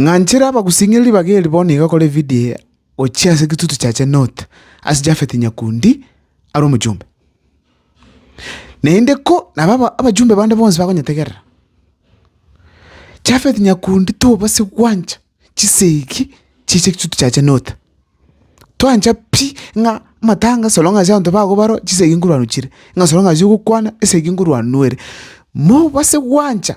Ng'anchere abagusing'iri ribaga eri bono iga kore evidio eye gochia ase egitutu kiaye North, ase Japhet Nyakundi are omochombe. Naende ko naba abachumbe bande bonsi bakonyetegerera, Jafeti nyakundi tobase gwancha chisegi chi'che chituko chiaye chia Note. Twancha pi ng'a amatanga asorong'a ase abanto bago baro chisegi nkorwa rochire, ng'a asorong'a ase ogokwana esegi nkorwa nwere. Mobase gwancha.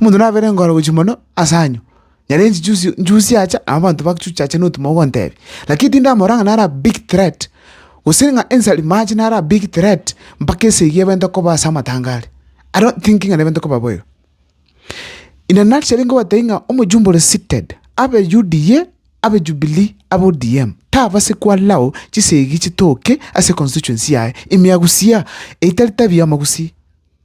Omonto nabere engoro gochia mono ase anyo, nyaria inche juzi njusi acha nabo abanto bagochi chacha na otuma ogontebia. Lakini tindamorora ng'a nare big threat, gose ng'a ensari mache nare a big threat mpaka esegi ebente koba ase amatanga are. I don't think ng'a nebente koba boigo. In a nutshell nkobatebia ng'a omojumbe ore seated, abe UDA, abe Jubilee, abe ODM, tabase ko allow chisegi chitoke ase constituency yaye, ime agusia, eitari tabia amagusii.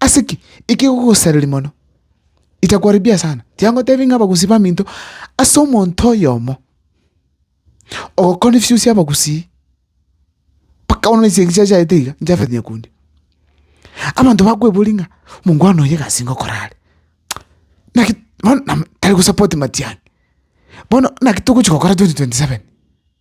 Ase ki ekegogosareria mono? Itakuharibia sana. Tiga ngotebie ng'a abagusii baminto ase omonto oyomo ogokora efiosi abagusii mpaka bono chinsa echi achaete iga nchafete nyakundi. Abanto bakweboria ng'a omongwana oyo egasi nigo okora are? Naki bono tari gosupport matiang'i. Bono naki togochi gokora twenty twenty seven?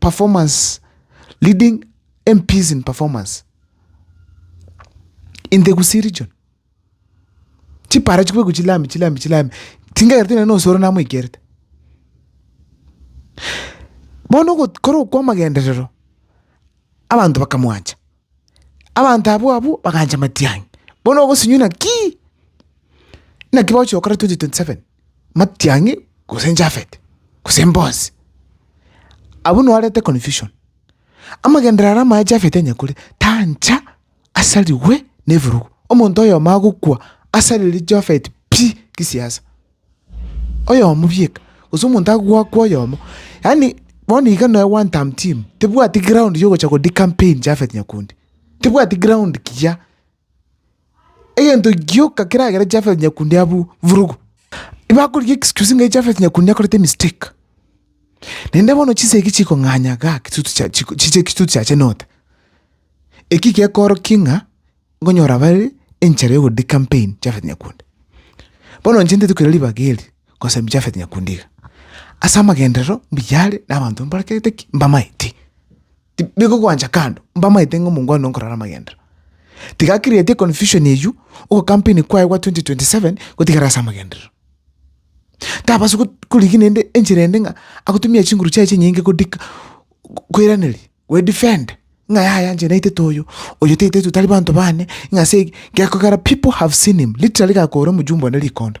performance, leading MPs in performance in the Gusii region. Chipara chikobekwa chilami chilami chilami, tingakereti nonye na osoro namoikerete. Bono ogot- kore okwo amagenderero, abanto bakamwancha, abanto abwo abwo bakancha matiang'i, bono ogosenywa naki? Naki bagochia gokora 2027. Matiang'i gose Jafeti, gose Boazi. Abwo nobarete confusion. Amagenderero aria amaya Jafeti anyakore tancha asarigwe nebirugu. Omonto oyomo agokwa asarire Jafeti pi gisiasa. Oyomo bieka gose omonto agoakwa oyomo. Yaani bono iga noe one term team tebwati ground yogocha go de-campaign Jafeti Nyakundi. Tebwati ground kiya. egento gioka keragere Japhet Nyakundi abw vurugu. Bakorigia excuse ng'a Japhet Nyakundi akorete mistake, naende bono chinsa eki chikong'anya igaa kitutu chia chiko chiche kitutu chiache note. Eki gekoorokia ng'a nkonyora bare enchara ya ogodi campaign Japhet Nyakundi. Bono inche ntaete koira ribaga eri ngosemia Japhet Nyakundi iga, ase amagenderero mbuya are na abanto mbarekete ki? mbamaeti. tibikogwancha kando, mbamaete ng'a omongwana oo nkorora amagendero. Tiga create confusion eyio, ogo campaign kwaye gwa 2027 gotigara ase amagenderero. Tabasa korigia naende enchera ende ng'a agotumia chinguru chiaye chinyinge kodika koiraneria gwe defend ng'a yaya inche naitete oyo, oyo taiteti tari banto bane, ng'a ase eki, gekogera people have seen him, literally gakoora omojumbe one rikondo.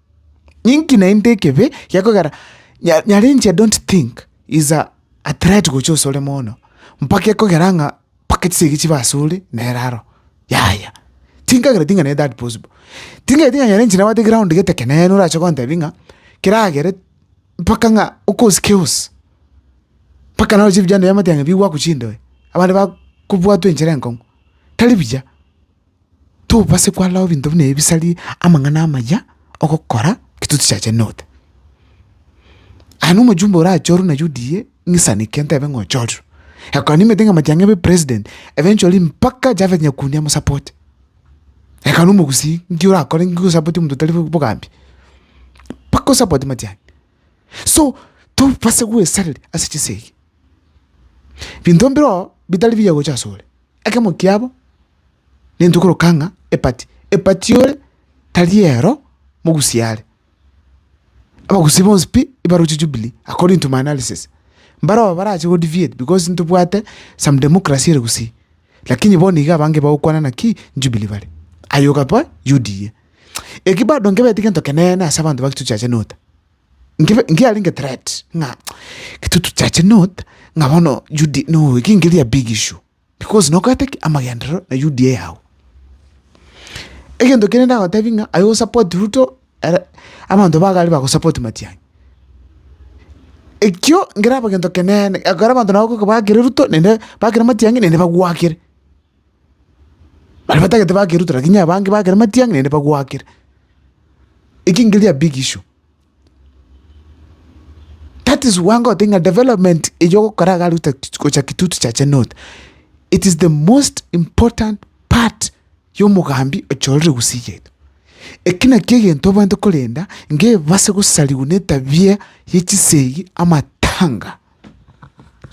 Inki naende ekebe gekogera nya- nyarenche I don't think is a a threat gocha ase ore mono, mpaka ekogera ng'a mpaka chisegi chibe ase ore nere aro, yaya. Tinkagereti ng'a nere that possible, tinkagereti ng'a nyarenche nabwate ground gete ekenene orache gontebia ng'a keragere mpaka ng'a okosi keosi, mpaka naroche ebichanda biamate ng'a bigwakwa chindoe, abande ba- kobwatwa enchera enkong'u, tari buya. tobase kwarorao ebinto buna ebi bisari amang'ana amaya ogokora ki totichachenire goteba. Aye na omojumbe orachorwe na UDA ng'isaneke ntebe ng'a ochorirwe. Ekero nimanyete ng'a matiang'a abe president, ebe nchori mpaka Japhet Nyakundi amosapote. Ekero na omogusii nki orakore nki osapotie omonto otari bogambi? Mpaka osapote matiang'a. So tobase goesareri ase chisegi. Binto mbireo bitari biya gocha asore. Ekemo kiabo. nintwe koroka ng'a epati, epati ore tari ero mogusi are. Abagusi bonsi pi ibaroche Jubilee according to my analysis, mbaroba barache go deviate because ntobwate some democracy ere gusii, lakini bono iga abange bagokwana naki Jubilee bare, aye okaba UDA. Eki bado nkebeti gento keneene ase abanto ba Kitutu Church North, nkebe nkiarenge threat ng'a Kitutu Church North ng'a bono UD no eki nkeri a big issue. Because nokorete ki? Amagenderero na UDA yao. Egento kende ndagotebie ng'a aye osupport Ruto ere abanto ba gari bagosupport Matiang'i. Ekio nkeraba gento keneene, ekero abanto nabo goika bagakire Ruto naende bagakire Matiang'i naende bagwakire. Baria batagete bagakire Ruto lakini abange bagakire Matiang'i naende bagwakire. Eki nkeria big issue, That is why ngote ng'a development eyio ogokora iga Ruto gocha Kitutu chacha North, it is the most important part ya omogambi ocha orore Gusii yaito. Eki nakio egento oboete korenda nge ebase gosariwa na etabia ya chisegi, amatanga.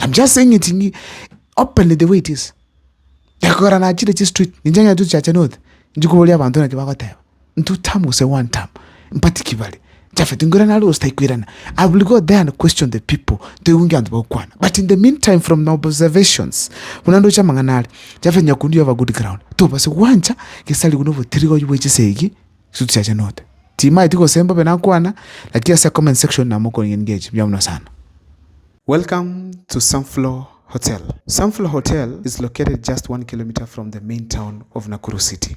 I am just saying it in openly the way it is. Ekogera nachire chistreet, inche ng'a Kitutu chacha North, inche koboria abanto naki bagoteba. Ntutam gose one tam mpati ki bare Japhet nkoira nare gose taikoirana I will go there and question the people toigwe nki abanto bagokwana but in the meantime from my observations buna ndoche amang'ana are Japhet Nyakundi you have a good ground tobase gwancha gese arigwe na obotiriri oyio bwa echesa egi ase tochachenote timaeti gose mbobe nakwana lakini ase comment section namokoria nigo echi mbuya mono sana. Welcome to Sunflower Hotel. Sunflower Hotel is located just one kilometer from the main town of Nakuru City.